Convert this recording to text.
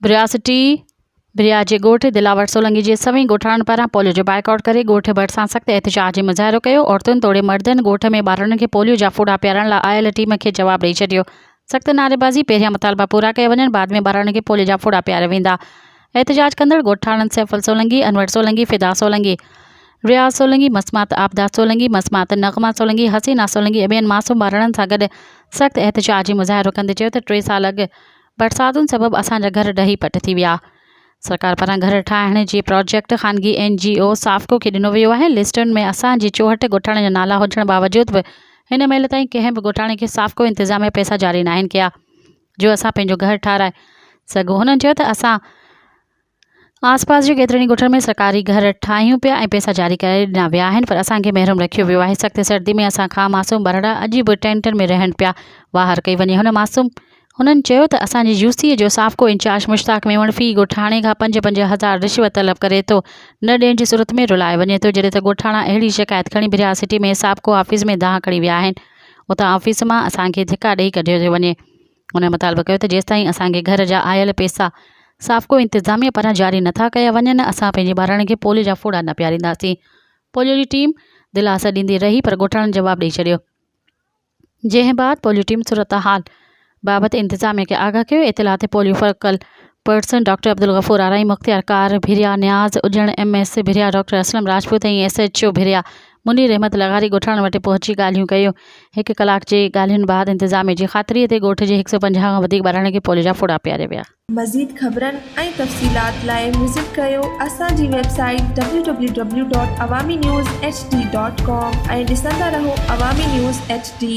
برياسٽي، بريا جي ڳوٺ دلاور سولنگي جي سوين ڳوٺاڻن پاران پوليو جو بائيڪاٽ ڪري ڳوٺ ڀرسان سخت احتجاج جي مظاهرو ڪيو، عورتن توڙي مردن ڳوٺ ۾ ٻارڙن کي پوليو جا ڦوڏا پيارڻ لاء آيل ٽيم کي جواب ڏئي ڇڏيو، سخت نعريبازي پهريان مطالبا پورا ڪيا وڃن بعد ۾ ٻاراڻي کي پولي جا ڦوڙا پياريا ويندا احتجاج ڪندڙ ڳوٺاڻن سيفل سولنگي، انور سولنگي، فدا سولنگي، رياض سولنگي، مسمات عابده سولنگي، مسمات نغمه سولنگي، حسينا سولنگي ۽ ٻين معصوم ٻاراڻن سان گڏ سخت احتجاجي مظاهرو ڪندي چيو ته ٽي سال اڳ برساتن سبب اسان جا گهر ڊهي پٽ ٿي ويا سرڪار پاران گهر ٺاهڻ جي پراجيڪٽ خانگي اين جي او سافڪو کي ڏنو ويو آهي، لسٽن ۾ اسان جي چوهٺ ڳوٺاڻن جا نالا هجڻ باوجود به هن مهل تائين ڪنهن به ڳوٺاڻي کي سافڪو انتظاميا پئسا جاري ناهن ڪيا جو اسان پنهنجو گهر ٺاهرائي سگهون، هنن چيو ته اسان آس پاس جي ڪيترن ئي ڳوٺن ۾ سرڪاري گهر ٺاهيون پيا ۽ پئسا جاري ڪرائي ڏنا ويا آهن پر اسان کي محروم رکيو ويو آهي، سخت سردي ۾ اسان کان معصوم ٻارڙا اڄ به ٽينٽن ۾ رهن پيا، واهر ڪئي وڃي هن معصوم. هنن چيو ته اسان جي يو سي جو سابقو انچارج مشتاق ميمڻ في ڳوٺاڻي کان پنج پنج هزار رشوت طلب ڪري ٿو نه ڏيڻ جي صورت ۾ رلائي وڃي ٿو جڏهن ته ڳوٺاڻا اهڙي شڪايت کڻي بريا سٽي ۾ سابقو آفيس ۾ دانهن کڻي ويا آهن اتان آفيس مان اسان کي ڌڪا ڏئي ڪڍيو ٿو وڃي هنن مطالبو ڪيو ته جيستائين اسان کي گهر جا آيل پيسا سابقو انتظاميه پاران جاري نٿا ڪيا وڃن اسان پنهنجي ٻارڙن کي پوليو جا ڦوڙا نه پيارينداسين پوليو جي ٽيم دلاسا ڏيندي رهي پر ڳوٺاڻن جواب ڏئي ڇڏيو. جنهن بعد پوليو ٽيم صورتحال بابت انتظاميا کي آگاهه ڪيو، اطلاعات ۽ polio focal person doctor Abdul Ghafoor Arain, مختيار ڪار Bhiria, Niaz Ajan, M S Bhiria, doctor Aslam Rajput ۽ S H O Bhiria Munir Ahmed لغاري ڳوٺاڻن وٽ پهچي ڳالهيون ڪيون، هڪ ڪلاڪ جي ڳالهين بعد انتظاميا جي خاطري تي ڳوٺ جي هڪ سؤ پنجاهه کان وڌيڪ ٻارڙن کي پوليو جا ڦوڙا پياريا ويا. مزيد خبرن ۽ تفصيلات لاء وزٽ ڪريو اسان جي ويب سائيٽ www.awaminewshd.com ۽ ڏسندا رهو عوامي نيوز ايڇ ڊي